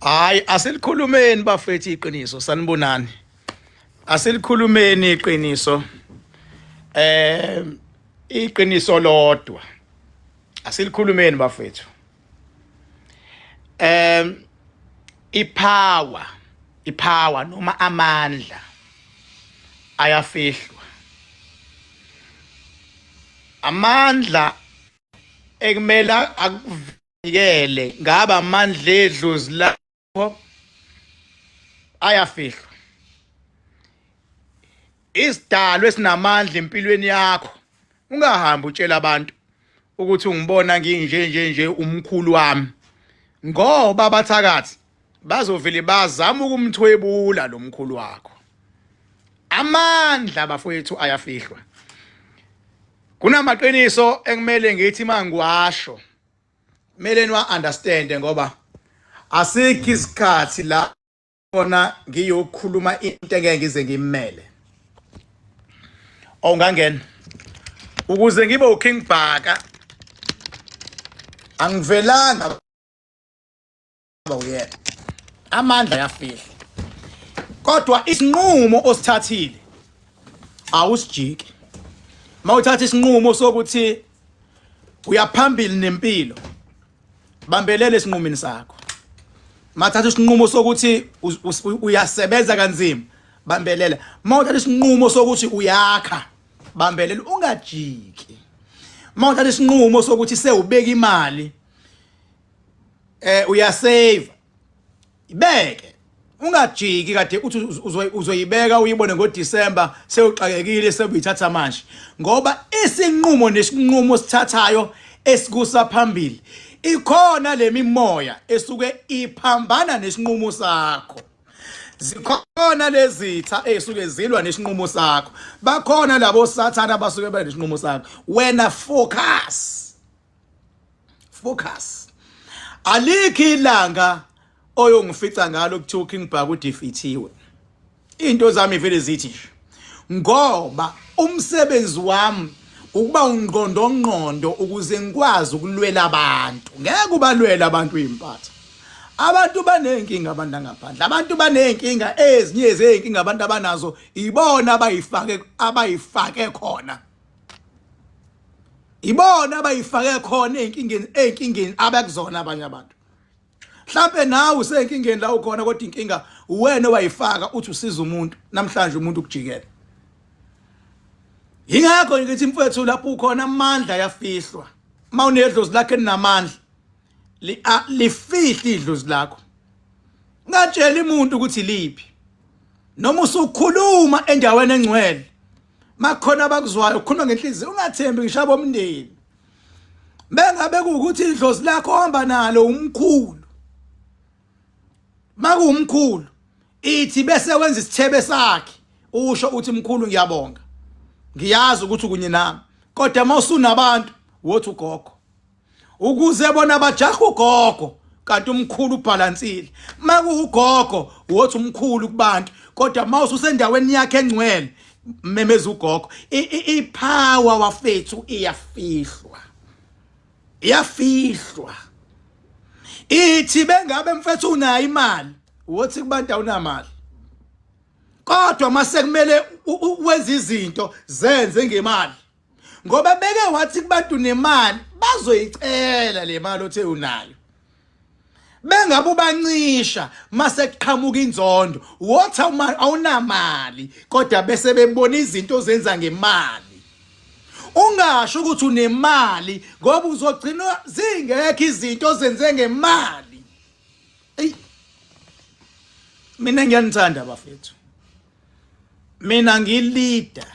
hayi asilikhulumeni bafethu iqiniso sanibonani asilikhulumeni iqiniso eh iqiniso lodwa asilikhulumeni bafethu eh ipower ipower noma amandla ayafihlwa amandla ekumele nikele ngaba amandla edlozi lakho ayafihlwa isidalwe sinamandla empilweni yakho ungahambi utshela abantu ukuthi ungibona nginje nje nje umkhulu wami ngoba abathakathi bazovele bazama ukumthwebula lo mkhulu wakho amandla bafowethu ayafihlwa kunamaqiniso ekumele ngithi mangiwasho Mele niwa understand ngoba asikho isikhathi la khona ngiyokhuluma into engeke ngize ngimele. Ongangena. Ukuze ngibe uKing Bhaka angivelanga uyena amandla yafihla kodwa isinqumo osithathile awusijiki mawuthatha isinqumo sokuthi uyaphambili nempilo bambelele esinqumini sakho mathatha isinqumo sokuthi uyasebenza kanzima bambelele mawuthatha isinqumo sokuthi uyakha bambelele ungajiki mawuthatha isinqumo sokuthi sewubeka imali eh uyasave ibeke ungajiki kade uthi uzoyibeka uyibone ngoDecember sewuxakekile sebuyithatha manje ngoba isinqumo nesinqumo sithathayo esikusa phambili ikhona lemimoya esuke iphambana nesinqumo sakho zikhona lezitha ezisuke zilwa nesinqumo sakho bakhona labo sathana abasuke benesinqumo sakho wena focus focus alikhi ilanga oyongifica ngalo kuthiwa uKing Bhaku udefeathiwe into zami vele zithi ngoba umsebenzi wami ukuba ungqondo ngqondo ukuze ngikwazi ukulwela abantu ngeke ubalwela abantu impatha abantu banenkinga abantu angaphandle abantu banenkinga ezinye zezinkinga abantu abanazo ibona abayifake abayifake khona ibona abayifake khona ezinkingeni ezinkingeni abekuzona abanye abantu mhlambe nawe usenkingeni la ukhona kodwa inkinga uwena owayifaka uthi usiza umuntu namhlanje umuntu ukujikela yingakho ngithi mfethu lapho ukhona amandla yafihlwa mawunedlozi lakhe linamandla lifihle idlozi lakho ngatshela imuntu ukuthi liphi noma usukhuluma endaweni engcwele makhona abakuzwayo ukhuluma ngenhliziyo ungathembi ngishaba omndeni bengabe kuwukuthi idlozi lakho ohamba nalo umkhulu makuwumkhulu ithi bese wenza isithebe sakhe usho uthi mkhulu ngiyabonga ngiyazi ukuthi kunye nami kodwa mawusunabantu wothi ugogo ukuze bona bajaha ugogo kanti umkhulu ubhalansile makuwugogo wothi umkhulu kubantu kodwa mawuse usendaweni yakhe engcwele memeza ugogo ipower wafethu iyafihlwa iyafihlwa ithi bengabe mfethu unayo imali wothi kubantu awunamali kodwa mase kumele wenza izinto zenze ngemali ngoba beke wathi kubantu nemali bazoyicela le mali othe unayo bengabe ubancisha mase kuqhamuka inzondo wothi awunamali kodwa bese bebona izinto ozenza ngemali ungasho ukuthi unemali ngoba uzogcina zingekho izinto ozenze ngemali eyi mina ngiyanithanda bafethu mina ngilida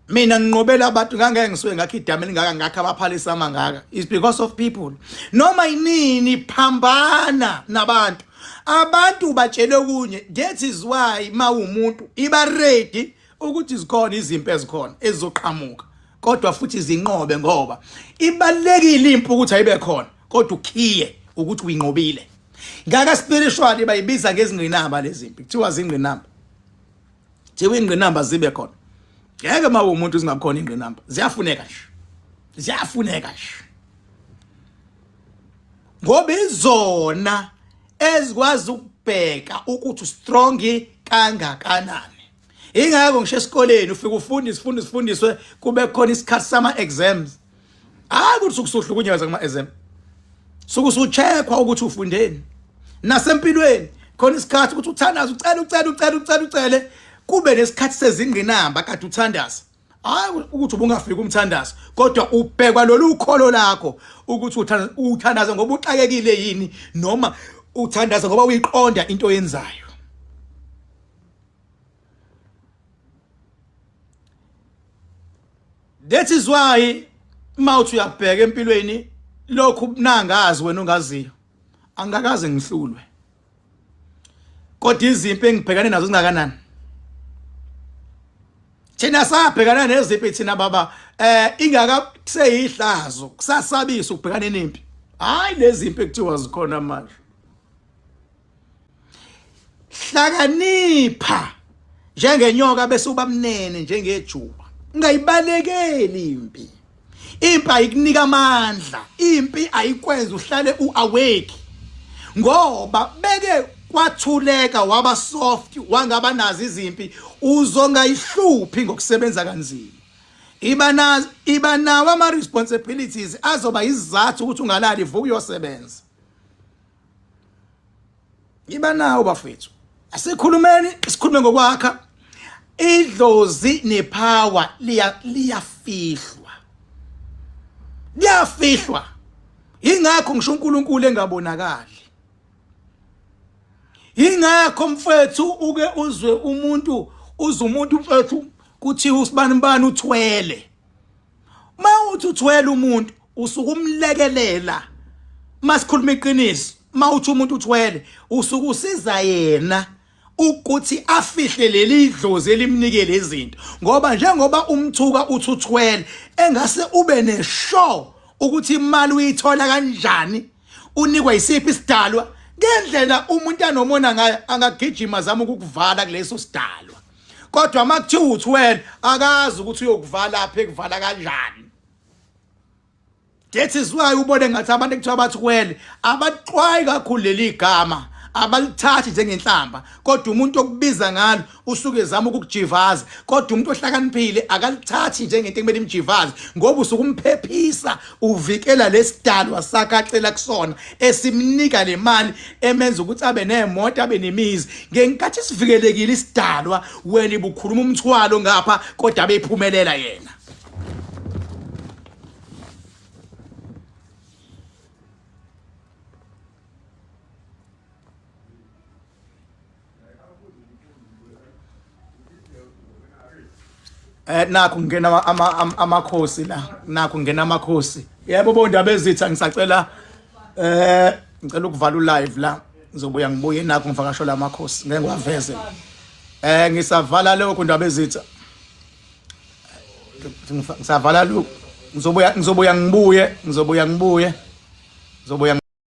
mina nginqobela abantu ngangeke ngisuke ngakho idama elingaka ngakho abaphalisa amangaka is because of people noma yinini phambana nabantu abantu batshele kunye that is why mawumuntu iba ready ukuthi zikhona izimpi ezikhona ezizoqhamuka kodwa futhi zinqobe ngoba ibalekile impi ukuthi ayibe khona kodwa ukhiye ukuthi uyinqobile ngaka spiritual bayibiza ngezingqinamba lezimpi kuthiwa zingqinamba thiwa ingqinamba zibe khona ngeke uma umuntu zingakhona ingqinamba ziyafuneka nje ziyafuneka nje ngoba izona ezikwazi ukubheka ukuthi strong kangakanani ingakho ngisho esikoleni ufike ufunde isifundo sifundiswe kube khona isikhathi sama exams hayi ukuthi sukusuhlukunyezwa kuma exam sukusucheckwa ukuthi ufundeni nasempilweni khona isikhathi ukuthi uthandaze ucela ucela ucela ucela ucele kube nesikhathi sezingqinamba kade uthandaza hayi ukuthi ubungafiki umthandazo kodwa ubhekwa lolu kholo lakho ukuthi uthandaza ngoba uxakekile yini noma uthandaza ngoba uyiqonda into yenzayo That is why mawuthi uyabheka empilweni lokhu ubunangazi wena ongaziyo angikaze ngihlulwe kodwa izimpi engibhekane nazo zingakanani thina sabhekana nezimpi thina baba eh ingaka kuseyihlazo kusasabisa ukubhekana nempi hayi lezimpi ekuthiwa zikhona manje hlakanipha njengenyoka bese ubamnene njengejuba ungayibalekeli impi impi ayikunika amandla impi ayikwenza uhlale uawake ngoba beke kwathuleka waba soft wangaba nazi izimpi uzongayihluphi ngokusebenza kanzima iba na iba nawo ama responsibilities azoba izizathu ukuthi ungalali vuka uyosebenza yiba nawo bafethu asikhulumeni sikhulume ngokwakha idlozi nepower liya liyafihlwa liyafihlwa ingakho ngisho uNkulunkulu engabonakali ingakho mfethu uke uzwe umuntu uze umuntu mfethu kuthiwa usibani bani uthwele mawuthi uthwele umuntu usuke umlekelela masikhuluma iqiniso mawuthi umuntu uthwele usuke usiza yena ukuthi afihle leli dlozi elimnikele izinto ngoba njengoba umthuka uthi uthwele engase ube neshow ukuthi imali uyithola kanjani unikwa isiphi isidalwa ngendlela umuntu anomona ngayo angagijima zama ukukuvala kuleso sidalwa kodwa uma kuthiwa uthi wena akazi ukuthi uyokuvala apha ekuvala kanjani that is why ubone ngathi abantu ekuthiwa bathi kwele abaxwayi kakhulu leli gama abalithathi njengenhlamba kodwa umuntu okubiza ngalo usuke ezama ukukujivaza kodwa umuntu ohlakaniphile akalithathi njengento ekumele imjivaze ngoba usukumphephisa uvikela lesidalwa sakhe acela kusona esimnika le mali emenza ukuthi abe nemoto abe nemizi ngenkathi sivikelekile isidalwa wena ibukhuluma umthwalo ngapha kodwa bephumelela yena Eh nakho ngena amakhosi la nakho ngena amakhosi yebo bo ndaba ezitha ngisacela eh ngicela ukuvala u live la ngizobuya ngibuye nakho ngifakasho la makhosi ngeke ngiwaveze eh ngisavala lokho ndaba ezitha ngisavala lokho ngizobuya ngizobuya ngibuye ngizobuya ngibuye ngizobuya